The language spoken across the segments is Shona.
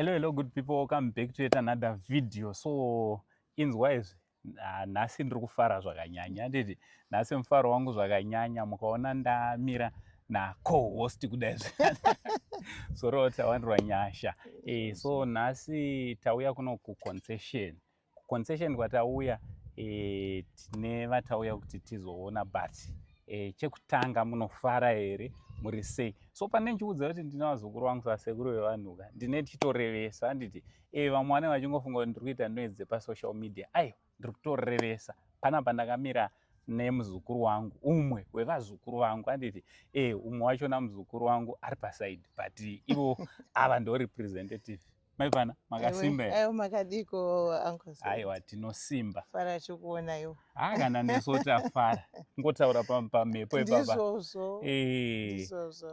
hello hello good people welcome back to yet another video so inzwa izvi ah, nhasi ndiri kufara zvakanyanya nditi nhasi mufaro wangu zvakanyanya mukaona ndamira nacohost kudai zvorota wandirwa nyasha e, so nhasi tauya kuno kuconcession Concession kwatauya e, tine vatauya kuti tizoona but e, chekutanga munofara here muri sei so pane ndichiudza kuti ndine vazukuru vangu sasekuru vevanhuka ndine tichitorevesa handiti e, vamwe vanenge vachingofunga kuti ndiri kuita noise dzepasocial media aiwa ndiri kutorevesa pana pandakamira nemuzukuru wangu umwe wevazukuru vangu anditi e umwe wachona muzukuru wangu ari pasaidi but ivo ava ndo representative maivana makasimba aiwa makadiko uncle aiwa tinosimba fara chikuona iwo ha kana neso tafara ngotaura pamhepo ipapandizvozvo eh.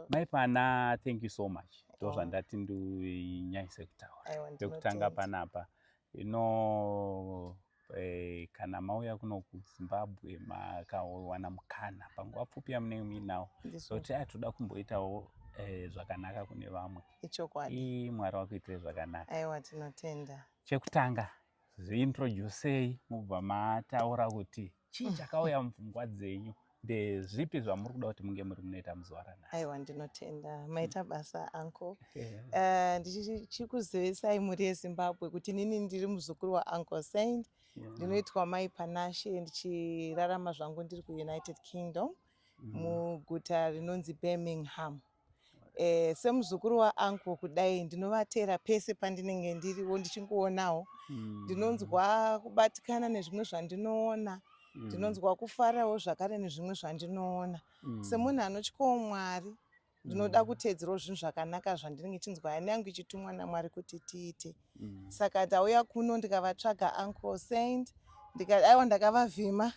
maipana thank you so much ndo oh. zvandati ndinyanyise kutaura pekutanga panapa ino Eh, kana mauya kuno kuzimbabwe makawana mukana panguva pfupi yamunenge muinawo zoti so, toda kumboitawo eh, zvakanaka kune vamwe ichokwadi mwari wakuitire zvakanaka aiwa tinotenda chekutanga ziintroducei mubva mataura kuti chii chakauya mupfungwa dzenyu ndezvipi zvamuri kuda kuti munge muri munoita muzuva ranhasi aiwa ndinotenda maita mm. basa anko eh, ndichikuzivisai mhuri yezimbabwe kuti nini ndiri muzukuru waanko saint ndinoitwa mai panashe ndichirarama zvangu ndiri kuunited kingdom mm. muguta rinonzi birmingham eh, semuzukuru waanko kudai ndinovatera pese pandinenge ndiriwo ndichingoonawo mm. ndinonzwa kubatikana nezvimwe zvandinoona mm. ndinonzwa kufarawo zvakare nezvimwe zvandinoona mm. semunhu anotyawo mwari ndinoda mm. kuteedzerawo zvinhu zvakanaka zvandinenge chinzwa yani yangu ichitumwa namwari kuti tiite mm. saka ndauya kuno ndikavatsvaga uncle saint ndikaiwa ndakavavhima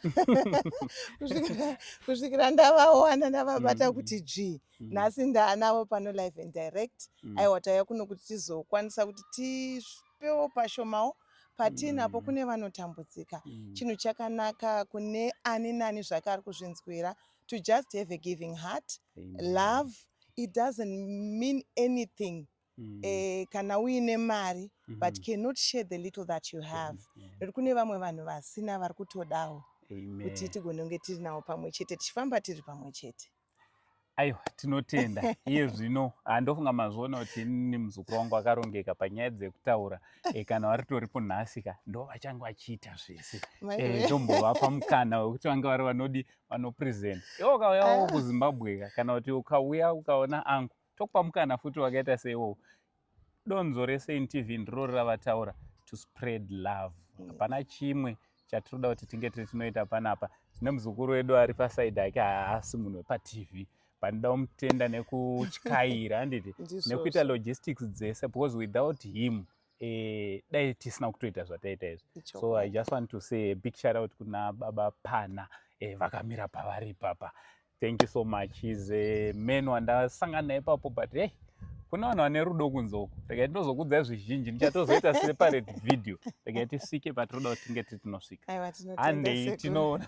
kusvikira ndavawana ndavabata mm. kuti dzvii mm. nhasi ndaanavo pano live and direct mm. aiwa tauya kuno kuti tizokwanisa kuti tipewo pashomawo patiinapo mm. kune vanotambudzika mm. chinhu chakanaka kune ani nani zvake ari kuzvinzwira to just have a giving heart Amen. love it doesn't mean anything mm. eh, kana uine mari mm -hmm. but cannot share the little that you have mm -hmm. kune vamwe vanhu vasina vari kutodawo kuti tigone kunge tiri nawo pamwe chete tichifamba tiri pamwe chete aiwa tinotenda iye zvino handofunga mazviona kuti ini muzukuru wangu akarongeka panyaya dzekutaura e, kana varitoripo nhasika ndo vachange vachiita zvese eh, ndombovapa e, mukana wekuti vange vari vanodi vanopresent iwe ukauyawo ah. kuzimbabweka kana kuti ukauya ukaona angu tokupa mukana futi wakaita seiwowo donzo resain tv ndiro ravataura to spread love mm. hapana chimwe chatinoda kuti tinge tiri tinoita panapa tine muzukuru wedu ari pasaidi ake haasi munhu wepatv panoda kumutenda nekutyaira anditi nekuita logistics dzese because without him eh, dai tisina kutoita zvataita izvi so i just want to say a big shoutout kuna baba pana eh, vakamira pavari ipapa thank you so much he's a man wandasangana naye papo but hey kune vanhu vane rudo kunze uku regai tinozokudzai zvizhinji ndichatozoita separate video regai tisvike patinoda kuti tinge tiri tinosvika handei tinoona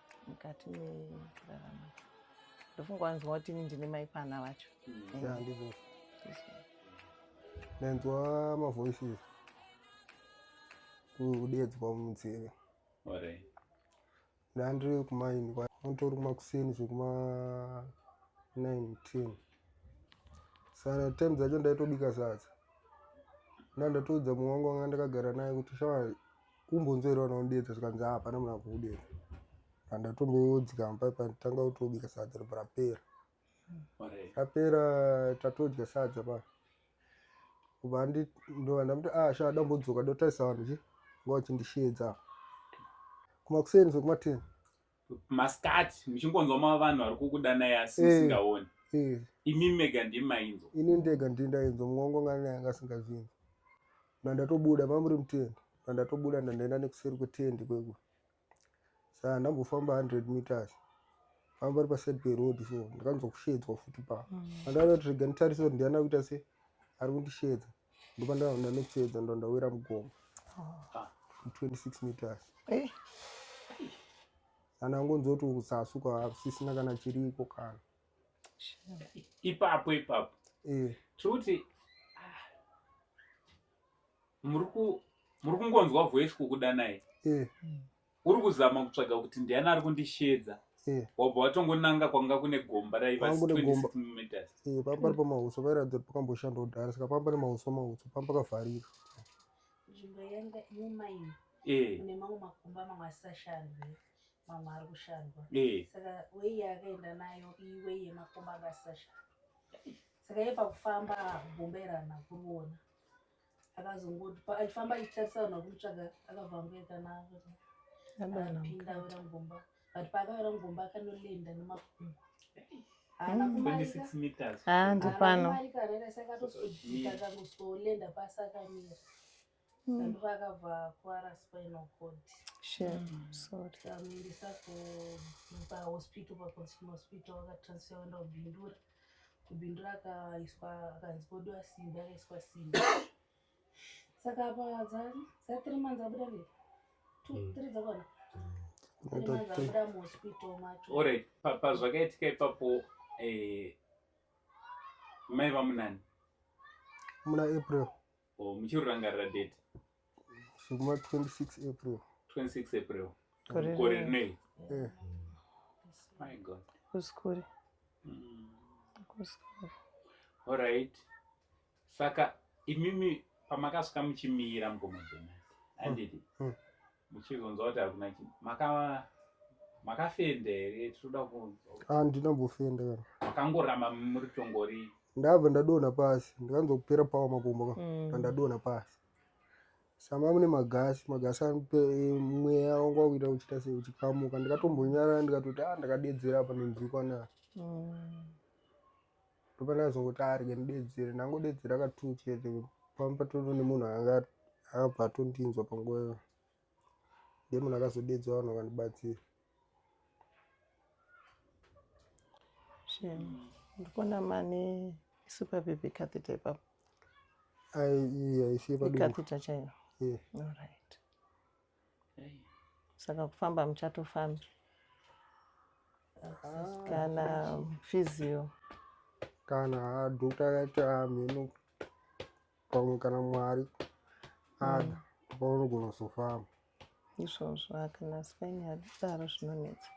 mukati mekurarama ndofunga wanzwa kuti ini ndine mai pana vacho mm. ndanzwa mavoices kudeedzwa munzeve ndandiri kumaini mutori kumakuseni zvekuma 19 sana time dzacho ndaitobika sadza ndandatoudza mumwe wangu wanga ndakagara naye kuti shaa kumbonzwera vana unodedza zvikanzi ah, hapana muna kuudedza andatomboodzikama pai patanga kutobika sadza ropa rapera rapera tatodya sadza pa kubva andi ndova ndamuti ah shaa dambodzoka dotarisa vanhu chi ngova chindisheedza kumakuseni zvekumateni masikati muchingonzwa ma vanhu vari kukudanai asi eh, musingaoni eh. imi mega ndimi mainzwa ini ndega ndii ndainzwa mwongo ngani yanga asingazvinzi ndandatobuda mamuri mutendi ndandatobuda ndandaenda nekuseri kwetendi kwekwe saa ndambofamba 100 meters famba ri paside peroad so ndikanzwa kushedzwa futi pa mm. andaona kuti rega nditarise kuti ndiana kuita se ari kundishedza Ndoba ndavanda nekuchiedza ndo ndawira mugomo. Ah. 26 meters. Eh. Kana ngonzi kuti kusasuka hakusisina kana chiriko kana. Ipapo ipapo. Eh. Tikuti ah, muri ku muri kungonzwa voice kukudanai. Eh. Hmm. uri kuzama kutsvaga kuti ndiani ari kundisheedza eh. wabva watongonanga kwanga kune gomba raiva meters eh, pamba pari pamahuswa vairatidza kuti pakamboshandwa kudhara saka pamba nemahuswa mahuswa pamba kavharira nzvimbo yanga mumaini eh. une mamwe makumba mamwe asisashandwe mamwe ari kushandwa saka wei yaakaenda nayo iwe yemakumba anga asisashandwa saka ye pakufamba gomba irana kuriona akazongoti achifamba achitarisa vanhu vakumutsvaga akabva angoenda navo apinda awira mugomba but paakawira mugomba akanolenda nemakumbo ndipanoakatozodikakangosolenda pasi akamira andivo akabva kwara spinal cord amuendesa pahospital paconsumer hospital akatransfer aenda kubindura mm. kubindu rakaiswa akanzi podiwa simbi akaiswa simbi saka apa za three months abuda nei two hmm. three dzakona orit hmm. pazvakaitika ipapo eh, mai vamunani muna april Oh, muchirurangarira date zvekuma 26 april 26 april Gore gore rino. rinei Eh, my god kusikuri Mm. kusikuri alright saka imimi pamakasvika muchimira mukoma jonasi handiti Mm. muchizonzwa kuti hakuna chi maka makafenda here tinoda kunzwa ah ndinambofenda kana makangoramba muri tongori ndabva ndadonha pasi ndikanzwa kupera pawa makumbo ka mm. ndadonha pasi sama mune magasi magasi eh, mweya wangu wakuita kuchita sei uchikamuka ndikatombonyarara ndikatoti a ah, ndakadedzera apa nenzikwa na mm. ndopana azongoti arye ndidedzere ndangodedzera ka two chete pamwe patoto nemunhu anga akabva atondinzwa panguva iyo ndiye munhu akazodedza vanhu vakandibatsira ndikuona mane super baby catheta ipapo aisiye padcatheta chaiyo yeah. all right saka kufamba muchatofambi kana physio kana doctor akati amheno pamwe kana mwari ada mm. paunogona kuzofamba izvozvo akana spain adidaro zvinonetsa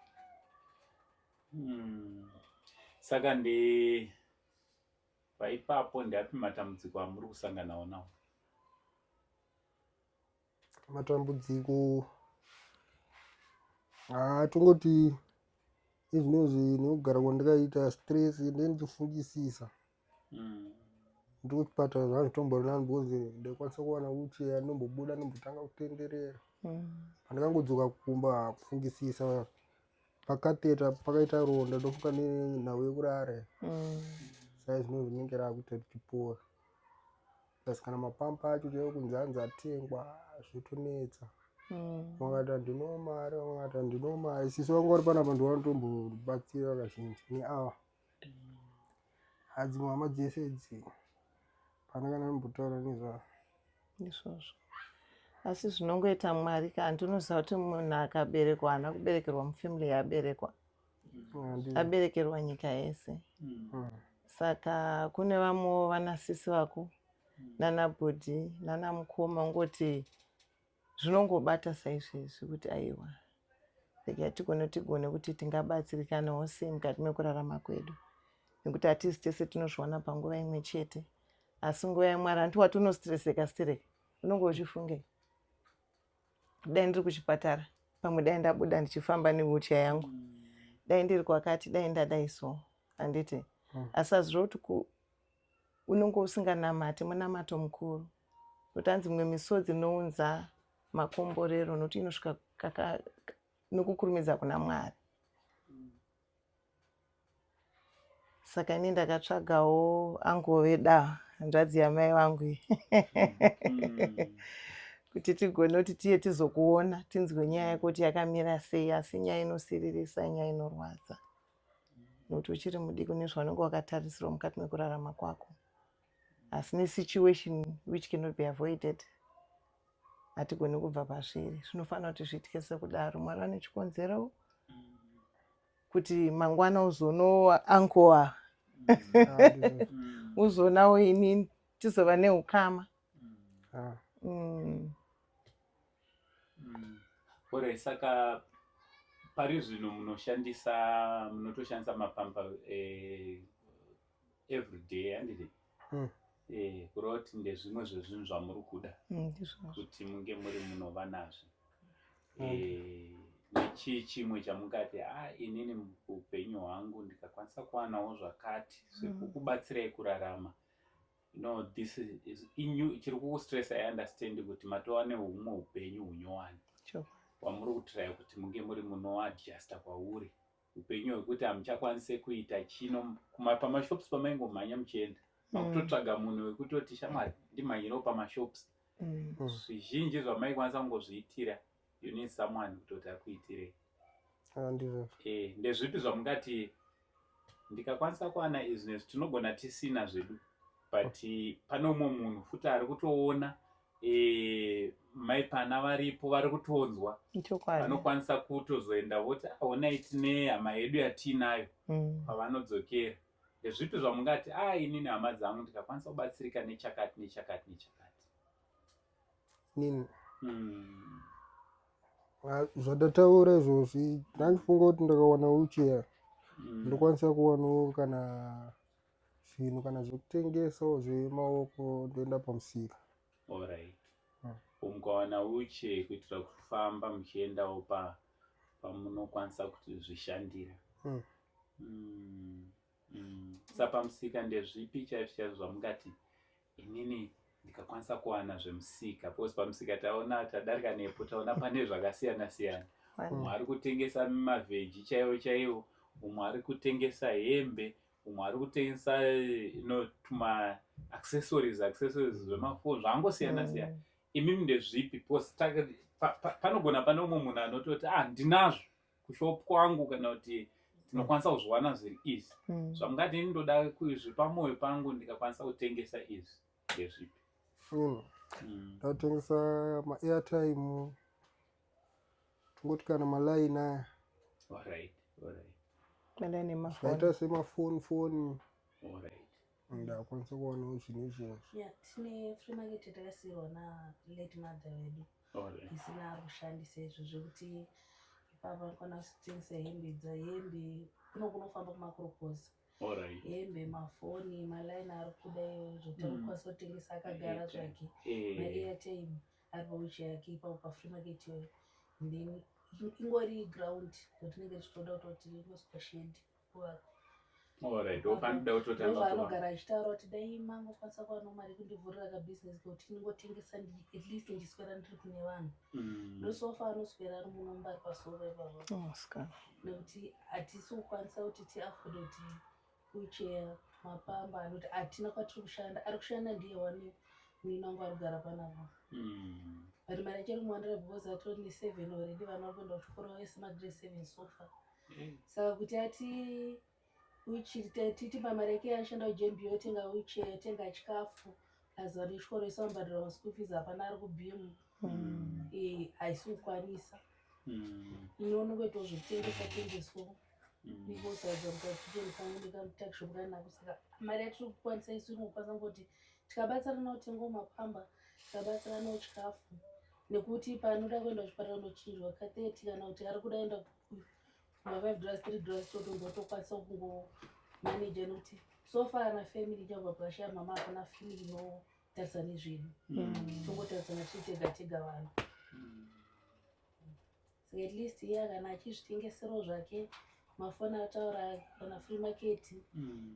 hmm. saka ndi paipapo ndiapi matambudziko amuri kusanganawo nawo matambudziko haa tongoti izvinozvi nekugara kwandikaita stress nde ndichifungisisa mm. ndikuchipatara zvanditomborinani because ndaikwanisa kuwana wucheya ndombobuda ndombotanga kutenderera mm. pandikangodzoka kumba kufungisisa pakateta pakaita ronda ndofuka nenhau yekurare mm. saizvinozvinenge raakuita tichipora plus kana mapampa acho chaiwo kunzi anzi atengwa zvotonetsa mm. vakati handino mari vakati handino mari sisi vanga vari panapa ndovanotombobatsira vakazhinji neava mm. adzimwe hama dzese idzi pana kana mbotaura nezvavo izvozvo asi zvinongoita mwari ka handinoziva kuti munhu akaberekwa haana kuberekerwa mufamily yaaberekwa aberekerwa nyika yese hmm. saka kune vamwe vanasisi vako hmm. nana bhodhi nana mukoma ungoti zvinongobata saizvezvi kuti aiwa like hatigone tigone kuti tingabatsirikanawo sei mukati mekurarama kwedu nekuti hatisi tese tinozviwana panguva imwe chete asi nguva yamwari hanti wati unostresseka stereka unonge uchifungei dai ndiri kuchipatara pamwe dai ndabuda ndichifamba newheelchair yangu dai ndiri kwakati dai ndadai so handiti hmm. asi azviro kuti unonge usinganamati munamato mukuru nokuti hanzi mimwe misodzi inounza makomborero nokuti inosvika nokukurumidza kuna mwari saka ini ndakatsvagawo angove da hanzvadzi yamai vangu iyi mm. kuti tigone kuti tiye tizokuona tinzwe nyaya yako kuti yakamira sei asi nyaya inosiririsa nyaya inorwadza nokuti uchiri mudiki une zvaunenge wakatarisirwa mukati mekurarama kwako asi nesituation which cannot be avoided hatigoni kubva pazviri zvinofanira kuti zviitike sekudaro mwari vane chikonzero mm. kuti mangwana uzonowa ankowa mm. uzonawo inini tizova neukama ah. mm. mm. ore saka pari zvino munoshandisa munotoshandisa mapamba eh, everyday handiti hmm. eh, kureva kuti ndezvimwe zvezvinhu zvamuri kuda hmm, kuti munge muri munova nazvo hmm. eh, nechii chimwe chamungati a ah, inini upenyu hwangu ndikakwanisa kuwanawo zvakati zvekukubatsirai kurarama no this is inyu chiri kukustressa i understand kuti matowane humwe upenyu hunyowani wamuri kutiraya kuti munge muri munoadjusta kwauri upenyu hwekuti hamuchakwanise kuita chino pamashops pamaingomhanya muchienda makutotsvaga mm. munhu wekutoti shamwari ndimhanyirawo pamashops mm. mm. zvizhinji zvamaikwanisa kungozviitira you need someone kutoti akuitirei ah, eh, ndezvipi zvamungati ndikakwanisa kuwana izvi nezvi tinogona tisina zvedu but pane umwe munhu futi ari kutoona eh, mai pana varipo vari kutonzwa vanokwanisa kutozoenda voti aonai ah, tine hama yedu yatiinayo mm. pavanodzokera ndezvipi zvamungati a ah, inini hama dzangu ndikakwanisa kubatsirika nechakati nechakati nechakati nini mm. ah, zvadataura izvozvi ndandifunga kuti ndakawana uchiya mm. ndokwanisa kuwanawo kana zvinhu kana zvekutengesa zvemaoko ndoenda pamusika orit hmm. mukawana uche kuitira kufamba muchiendawo pa pamunokwanisa kuti zvishandira hmm. Hmm. Mm. sa pamusika ndezvipi chaizvo chaizvo zvamungati inini ndikakwanisa kuwana zvemusika because pamusika taona tadarika nepo taona pane zvakasiyana siyana umwe ari kutengesa mavheji chaiwo chaiwo umwe ari kutengesa hembe umwe ari kutengesa ino tuma accessories accessories zvemafoni zvangosiyana mm. siyana imimi ndezvipi bcause panogona pane umwe munhu anototi ah ndinazvo kushop kwangu kana kuti tinokwanisa kuzviwana zviri izvi mm. zvamungati ini ndoda kuzvipa mwoyo pangu ndikakwanisa kutengesa izvi ndezvipi foni mm. ndatengesa maairtime Tungoti kana maline aya. Alright, alright. Maline emafoni. Zvakaita semafoni foni. Alright. Ndakwanisa kuwanawo zvine izvozvo. Yeah, tine free market yatakasiirwa na late mother vedu. Alright. Isina kushandisa izvo zvekuti ipapa kwana kutengesa hembe dza hembe kuno kunofamba kumakorokoza. Alright. Hembe, mafoni, maline ari kuda iyoyo zvekuti mm. anokwanisa kutengesa akagara zvake. Eh. Maria time. ari pawheelchair yake ipapo pafree market iyoyo then ingori ground yotinenge tichitoda kutoti inoiswa shedi kuvaka anogara achitaura kuti dai mangokwanisa kuva nomari kundivhurira kabusiness kekuti ndingotengesa at least ndiswera ndiri kune vanhu mm. ndosofa anoswera ari munomba ari pasoro ipavo oh, nekuti hatisi kukwanisa kuti tiafode kuti Kuchea mapamba anoti hatina kwatiri kushanda ari kushanda ndiye wani muini wangu ari kugara panapa mm. but mari achiri kumuwandira because atori neseven already vana vari kuenda kuchikoro vese magrade seven sofa mm. saka kuti ati titipa mari yake yaashanda kujmb yotenga uche yotenga chikafu aziva nechikoro isambadira maschool fees hapana ari kubhimu mm. eh, haisi kukwanisa mm. iwe unenge tozvitengesa tengeswa mm. nikosaidza kuti atitengesangu ndikatakisho kukanako saka mari yatiri kukwanisa isu inokwanisa kuti tikabatsirana utengo mapamba tikabatsirana uchikafu nekuti panoda kuenda kuchipatara unochinjwa ka thirty kana kuti ari kuda enda mafive dollars three dollars totonga tokwanisa kungo manager nekuti so far ana family chakubva pashaya mama akona family no tarisani zvinhu tongotaridzana tiri tega tega vanhu saka at least iye kana achizvitengeserawo zvake mafoni ataura kana free market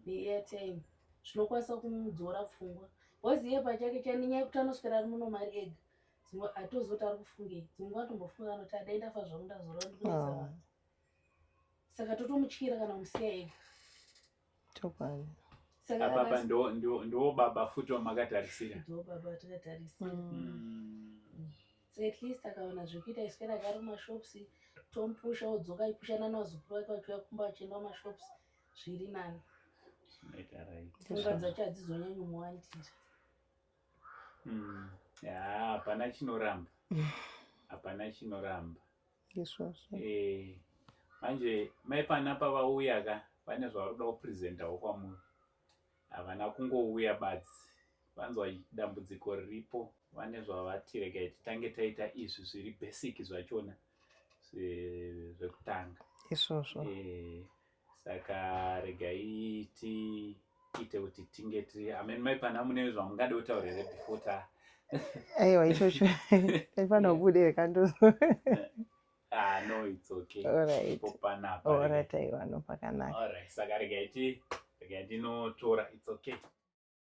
neairtime zvinokwanisa kumudzora pfungwa bcause iye pachake chanenyaya yekuti anoswera ari muno mari ega dzimwe atozoti ari kufungei dzimwe nguva atombofunga anoti adai ndafa zvangu ndazora ndikunetsa ah. vanhu saka totomutyira kana musiya ega chokwadi ababa ndiwo baba futi wamakatarisira ndiwo baba watakatarisira mm. mm. so at least akaona zvekuita isu kana kari mashops tompusha odzoka ipushana nawazukuru wake vachiuya kumba vachienda mashops zviri nani pfungwa dzacho hadzizonyanyi muwandira mm. hapana chinoramba hapana chinoramba izvozvo eh, manje mai pana pavauya ka vane zvavaroda kupresentawo kwamuri havana kungouya badzi vanzwa dambudziko riripo vane zvavatirega titange taita izvi zviri basic zvachona zvekutanga izvozvo eh, saka regai tiite kuti tinge tiri amen mai pana mune zvamungade utaure here before ta aiwa ichocho taifanira kubude rekandozo ah, no it's okay alright popanapa alright aiwa no pakanaka alright saka regai ti regai ndinotora it's okay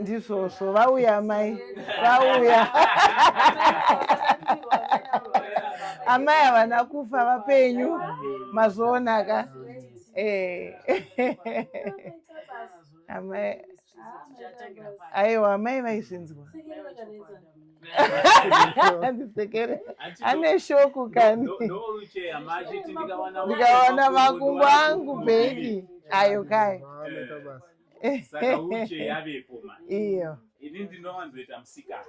ndizvozvo vauya amai vauya amai havana kufa vapenyu mazvionaka eh. amai aiwa amai vaizvinzwa andisekere ane shoku kani ndikawana makumbo angu bheki ayo kai iyo ini ndinowanzoita musikati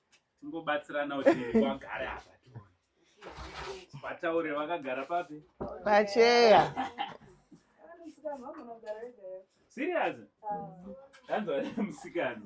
tingobatsirana kuti wagare apa vataure vakagara papi pacheya serious tanzwa musikana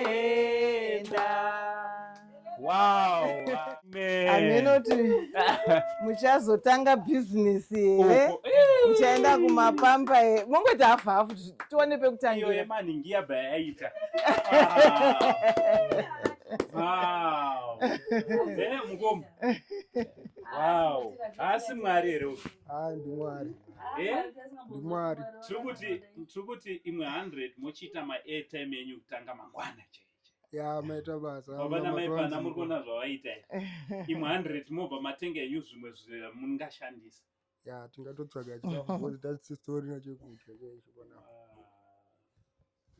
tinotenda wow amenoti muchazotanga bhizinesi here muchaenda kumapamba here mongoti hafu hafu tione pekutangira Wow. Wow. Asi mwari here Ah, ndimwari eh? ndimwari tiri kuti tiri kuti imwe 100 mochiita maairtime enyu kutanga mangwana chaiche ya maita basa baba namai pana muri kuona zvavaita imwe 100 mobva matenga enyu zvimwe zvamungashandisa ya tingatotsvaga chikafu tasitori nachekudya chaizvo pana ah.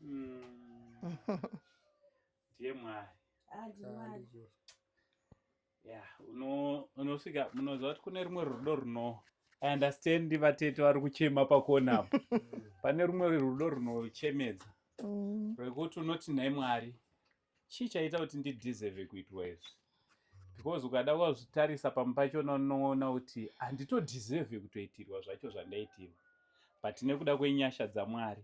hmm. ndiye mwari ah, ya unosvika munoziva kuti kune rumwe rudo runo i understand vatete vari kuchema pakona apo pane rumwe rudo runochemedza mm. rwekuti unoti nhai mwari chii chaita kuti ndideserve kuitwa izvi because ukada wazvitarisa pamwe pachona unoona kuti handitodeserve kutoitirwa zvacho zvandaitirwa but nekuda kwenyasha dzamwari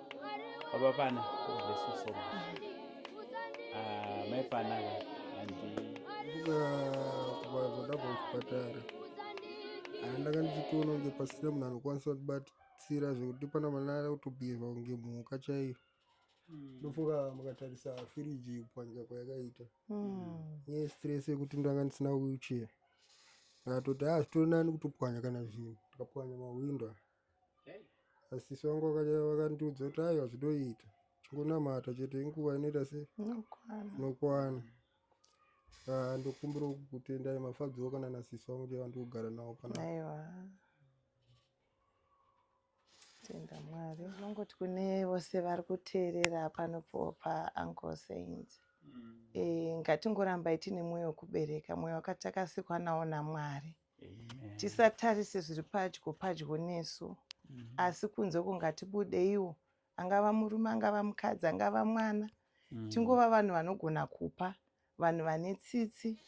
Baba Pana, God bless you so much. Uh, my Pana, and kubazada kuchipatara handanga ndichitoona kunge pasina munhu anokwanisa kutibatsira zvekuti pana mwana ari kutobhiheva kunge mhuka chaiyo hmm. ndofunga mukatarisa firiji kupwanyika kwayakaita hmm. nyaya stress yekuti ndanga ndisina wheelchair ndatoti a ah, zvitori nani kutopwanya kana zvinhu tikapwanya mahwindo asisi vangu vakandiudza kuti aiwa zvinoita chingonamata chete inguva inoita se nokwana ah, ndokumbira kutendai mafadzoo kana nasisi vangu ndiye vandi kugara navo pana aiwa tenda mwari unongoti kune vose vari kuteerera panopiwa paangle saint mm. e, eh, ngatingorambai tine mwoyo wekubereka mwoyo wakatakasikwa nawo namwari tisatarise zviri padyo padyo nesu mhm. asi kunze uko ngatibudeiwo angava murume angava mukadzi angava mwana mhm. tingova vanhu vanogona kupa vanhu vane tsitsi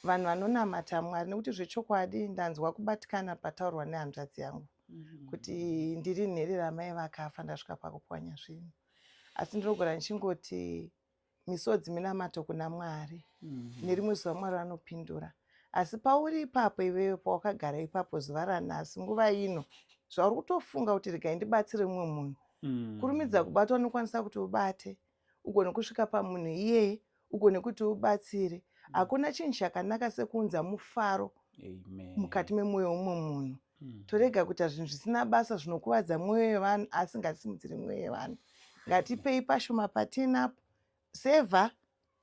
vanhu vanonamata mwari nekuti zvechokwadi ndanzwa kubatikana pataurwa nehanzvadzi yangu mhm. kuti ndiri nhere ramai vakafa ndasvika pakupwanya zvinhu asi ndinogona ndichingoti misodzi minamato kuna mwari mm -hmm. nerimwe zuva mwari vanopindura asi pauri ipapo iveyo pawakagara ipapo zuva ranhasi nguva ino zvauri kutofunga kuti regai ndibatsire mumwe munhu mm. kurumidza kubata unokwanisa kuti ubate ugone kusvika pamunhu iyeye ugone kuti ubatsire mm. hakuna chinhu chakanaka sekuunza mufaro mukati memwoyo womwe munhu mm. torega kuita zvinhu zvisina basa zvinokuvadza mwoyo yevanhu asi ngatisimudziri mwoyo yevanhu ngatipei pashoma patinapo seva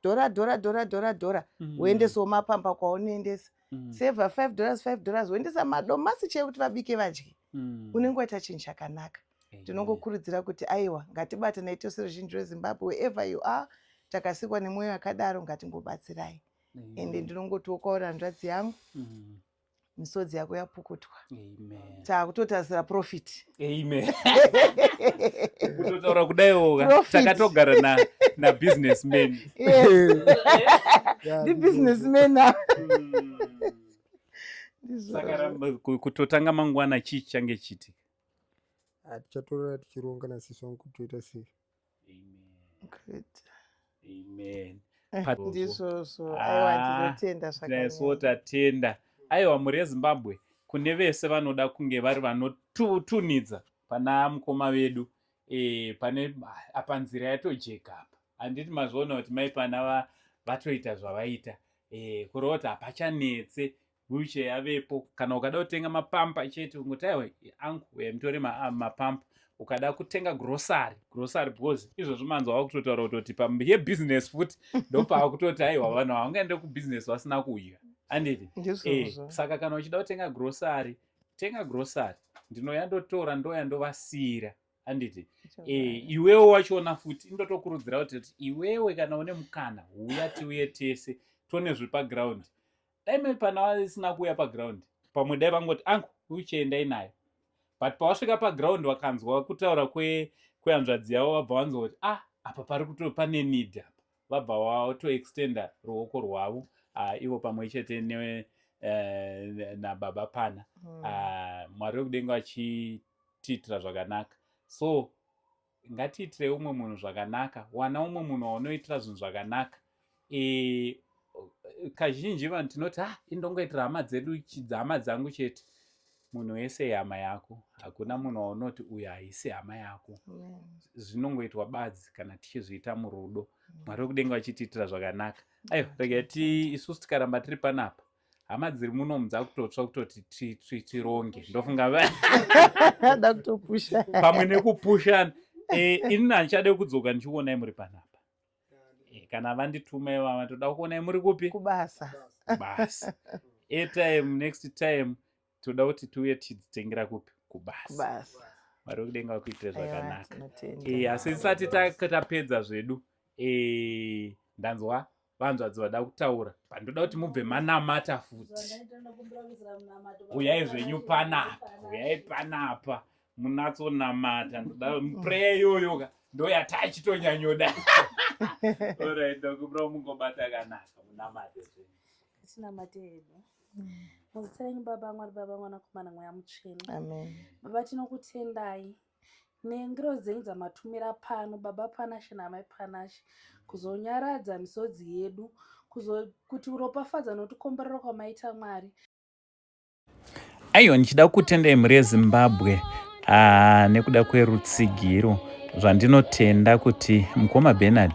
dhora dhora dhora dhora dhora mm. uendesawo mm. mapamba kwaunoendesa mm. seva five dollars five dollars uendesa madomasi chee kuti vabike vadye mm. unenge waita chinhu chakanaka tinongokurudzira kuti aiwa ngatibatanai tose ruzhinji rwezimbabwe wherever you are takasikwa nemwoyo yakadaro ngatingobatsirai ende ndinongotiwo kwauri hanzvadzi yangu mm. misodzi yako yapukutwa takutotarisira profit amen kutotaura kudaiwo takatogara na nabusiness man ndibusiness man hmm. saka kutotanga mangwana chii change chiti ah, tichatorora tichironga nasiswa kutoita sei ndizvozvotatenda ah, aiwa mhuri yezimbabwe kune vese vanoda kunge vari vanotunidza pana mukoma vedu e, pane apa nzira yatojeka apa handiti mazviona kuti mai pana vatoita zvavaita e, eh, kureva kuti hapachanetse wheelchair yavepo kana ukada kutenga mapampa chete ungoti aiwa angu uya mutore ah, mapampa ukada kutenga grocery grocery because izvozvo manzi wava kutotaura kutoti yebusiness futi ndopava kutoti aiwa vanhu havangaende kubusiness vasina kudya anditi eh, saka kana uchida kutenga grocery tenga grocery ndinoya ndotora ndoya ndovasiyira anditi eh, iwewe wachiona futi indotokurudzira kuti iwewe kana une mukana huya tiuye tese tone zvepaground dai maipana vasina kuuya paground pamwe dai vangoti angu wheelchair endai nayo but pawasvika paground wakanzwa kutaura kwehanzvadzi yavo vabva vanzwa kuti ah apa pari kuto pane need apa vabva watoextenda ruoko rwavo ah, ivo pamwe chete ne eh, nababa pana hmm. ah, mwari wekudenga vachitiitira zvakanaka so ngatiitire umwe munhu zvakanaka wana umwe munhu waunoitira zvinhu zvakanaka e, kazhinji vanhu tinoti ah indongoitira hama dzedu hama dzangu chete munhu wese ihama yako hakuna munhu waunoti uyo haisi hama yako zvinongoitwa badzi kana tichizviita murudo mwari wekudenga vachitiitira zvakanaka aiwa rega ti isusu tikaramba tiri panapa hama dziri muno mudza kutotsva kutoti tironge ndofunga da kutopusha pamwe nekupushana eh, inini handichade kudzoka ndichikuonai muri panapa eh, kana vandituma ivava toda kuonai muri kupi kubasa basa airtime next time toda kuti tiuye tichitengera kupi kubasa mwari wekudenga vakuitire zvakanaka eh, asi tisati tapedza zvedu eh, ndanzwa vanzvadzi vada kutaura pandoda kuti mubve manamata futi uyai zvenyu panapa uyai panapa munatsonamata ndoda mupreya iyoyo ka ndoyatachitonyanyoda orit ndokubra mungobata kanaka munamate zvenyu muzita renyu baba mwari baba mwanakomana mweya mutsvene baba tinokutendai nengiro dzenyu dzamatumira pano baba panashe namai panashe kuzonyaradza misodzi yedu kuti uropafadza notikomborero kwamaita mwari aiwa ndichida kutendai mhuri yezimbabwe Haa nekuda kwerutsigiro zvandinotenda kuti mukoma Bernard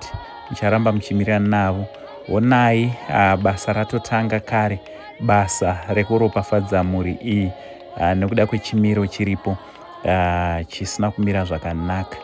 mucharamba muchimirira navo honai haa basa ratotanga kare basa rekuropafadza mhuri iyi haa nekuda kwechimiro chiripo haa chisina kumira zvakanaka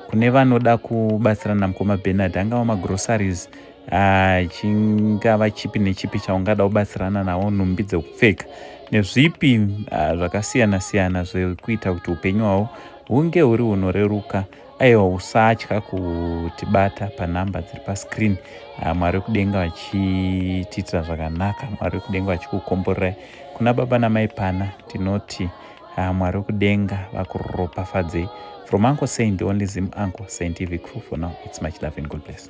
kune vanoda kubatsirana namukoma Bernard angava magroceries Ah, chingava chipi nechipi chaungada kubatsirana nawo nhumbi dzekupfeka nezvipi ah, zvakasiyana siyana zvekuita kuti upenyu hwavo hunge huri hunoreruka aiwa usatya kutibata panhamba dziri pascreen ah, mwari wekudenga vachitiitira zvakanaka mwari wekudenga vachikukomborerai kuna baba namai pana tinoti mwari wekudenga vakuropafadzei from uncle saint the only zim uncle saint tv crew for now its much love and god bless